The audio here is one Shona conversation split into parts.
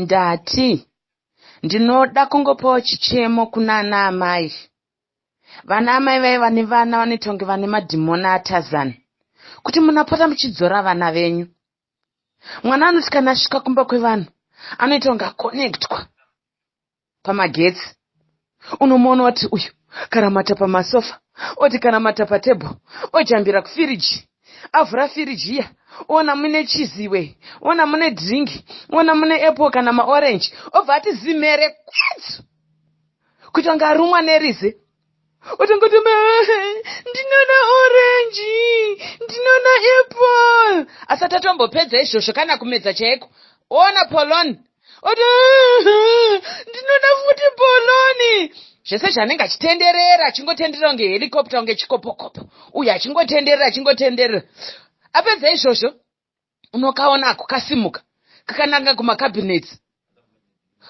Ndati, Ndinoda kungopawo chichemo kuna ana amai. Vana amai vaiva nevana vanoita kunge vane madhimona aTarzan. Kuti munapota muchidzora vana venyu. Mwana anoti kana asvika kumba kwevanhu anoita kunge akonekitwa. pamagetsi unomuona wati uyu karamata pamasofa oti kanamata patable ojambira kufiriji avhura firiji iya ona mune chizi iwe ona mune drink ona mune apple kana maorange obva ati zimhere kwetsu kuita kunge arumwa nerize Watongoto ma ndinona orange ndinona apple asati atombopedza izvozvo kana kumedza chaiko ona polon oti ndinona futi poloni zvese zvanenge achitenderera achingotenderera kunge helicopta kunge chikopokopo uye achingotenderera achingotenderera apedza izvozvo unokaona ako kasimuka kakananga kumakabinets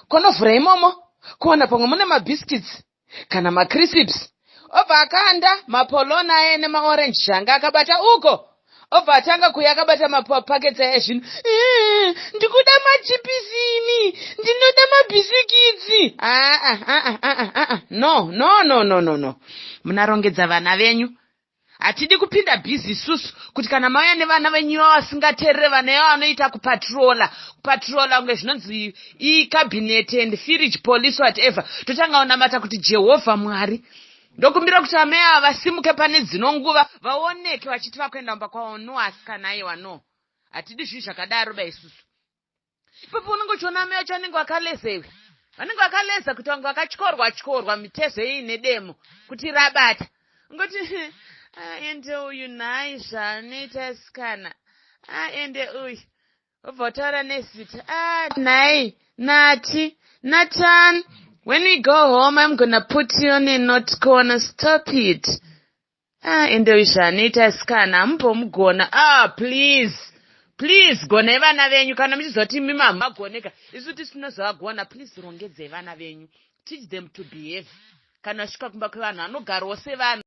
konovhura imomo kuwana pamwe mune mabhiskits kana macrisps obva akanda mapolona aye nemaorange zvanga akabata uko obva atanga kuya akabata mapakets aye zvino ndikuda machipisini ndinoda mabhisikitsi aa no no no no no no munarongedza vana venyu Hatidi kupinda busy isusu kuti kana mauya nevana venyu ivavo vasingaterere vana ivavo vanoita kupatrola kupatrola kunge zvinonzi ikabhineti and firige police whatever totanga kunamata kuti jehovha mwari ndokumbira kuti amai ava vasimuke pane dzino nguva vaoneke vachiti vakuenda kumba kwavo no asikana aiwa no hatidi zvinhu zvakadaro ba isusu ipapo unenge uchiona amai vacho vanenge vakaleza iwe vanenge vakaleza kuti vange vakatyorwa tyorwa mitezo iyi nedemo kuti rabata ungoti aende ah, uyu nhai zvaanoita asikana aende ah, uyu obva utaura nezita a ah, nhai nati natan when we go home im gonna put you on a not corner stop it Ah, ende uyu zvaanoita asikana hamumbomugona ah please please gonai vana venyu kana muchiziva kuti mimi hamumagoneka isu tisina zvavagona please rongedzai vana venyu teach them to behave kana vasvika kumba kwevanhu vanogarwo sevanhu